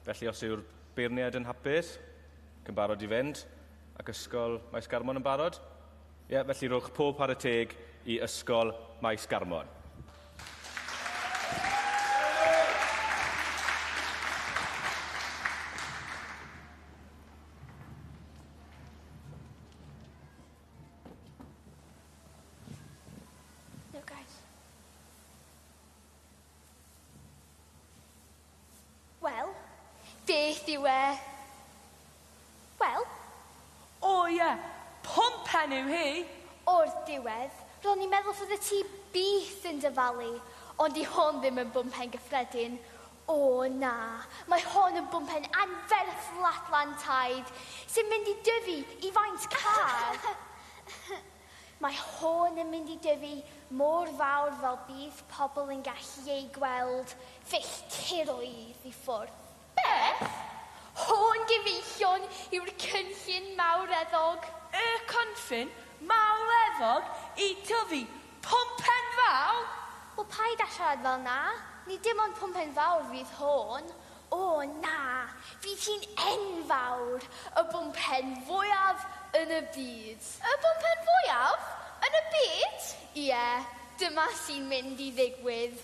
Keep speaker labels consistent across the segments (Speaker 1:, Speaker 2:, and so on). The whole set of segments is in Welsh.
Speaker 1: Felly os yw'r beirniaid yn hapus, ac yn barod i fynd, ac Ysgol Maes Garmon yn barod? Ie, felly rhowch pob pare teg i Ysgol Maes Garmon.
Speaker 2: Wel, beth yw e? Wel,
Speaker 3: O ie, pwmpen yw hi! O'r
Speaker 2: diwedd, ro'n i'n meddwl fyddet ti byth yn dyfalu, ond 'di hon ddim yn bwmpen gyffredin. O na, mae hon yn bwmpen anferth flatland taid, sy'n mynd i dyfu i faint car! Mae hon yn mynd i dyfu mor fawr fel bydd pobl yn gallu eu gweld filltiroedd i ffwrdd. Beth?
Speaker 3: Hon
Speaker 2: gyfeillion yw'r cynllun mawreddog? Y cynllun
Speaker 3: mawreddog i dyfu pwmpen fawr? Wel paid â
Speaker 2: siarad fel 'na, nid dim ond pwmpen fawr fydd hon, O na, bydd hi'n enfawr, y bwmpen fwyaf yn y byd. Y bwmpen
Speaker 4: fwyaf yn y byd? Ie,
Speaker 2: dyma sy'n mynd i ddigwydd.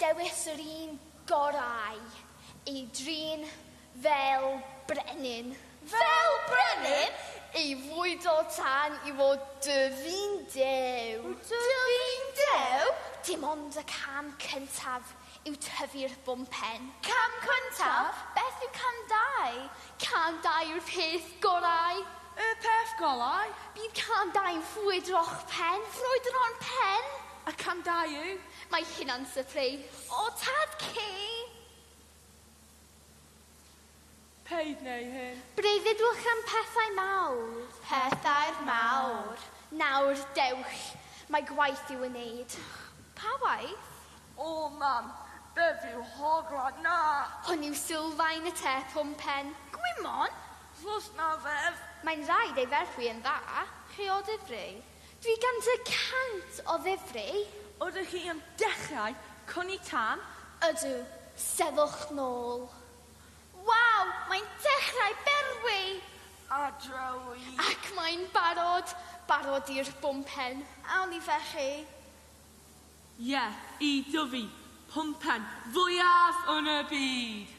Speaker 2: Dewis yr un gorau, ei drin fel brenin. Fel
Speaker 4: brenin? I fwydo
Speaker 2: tan i fod dy fin dew. Dy fin
Speaker 4: dew? Dim ond y
Speaker 2: cam cyntaf. yw tyfu'r bwmpen. Cam cyntaf,
Speaker 4: beth yw cam
Speaker 2: dau? Cam dau yw'r peth gorau. Y peth
Speaker 3: gorau? Bydd cam dau
Speaker 2: yn ffrwydro'ch pen. Ffrwydro'n pen? A cam dau
Speaker 3: yw? Mae hynna'n
Speaker 2: sypreis. O, tad ci!
Speaker 3: Paid neu hyn. Breuddwydwch am
Speaker 2: pethau mawr. Pethau'r
Speaker 4: mawr. Nawr,
Speaker 2: dewch. Mae gwaith i'w wneud. Pa waith? O, mam,
Speaker 3: beth yw hogla? Na! Hwn yw
Speaker 2: sylfaen y te pum pen. Gwymon?
Speaker 4: Ffos na
Speaker 3: fedd. Mae'n rhaid ei
Speaker 2: ferwi yn dda. Chi o Ddifrif?
Speaker 4: Dwi gan dy
Speaker 2: cant o ddifri. Ydych chi am
Speaker 3: dechrau cwni tân? Ydw,
Speaker 2: sefwch nôl. Waw,
Speaker 4: mae'n dechrau berwi! A
Speaker 3: drawi! Ac mae'n
Speaker 2: barod, barod i'r bwmpen. Awn i felly?
Speaker 3: Ie, i dyfu pwmpen fwyaf yn y byd!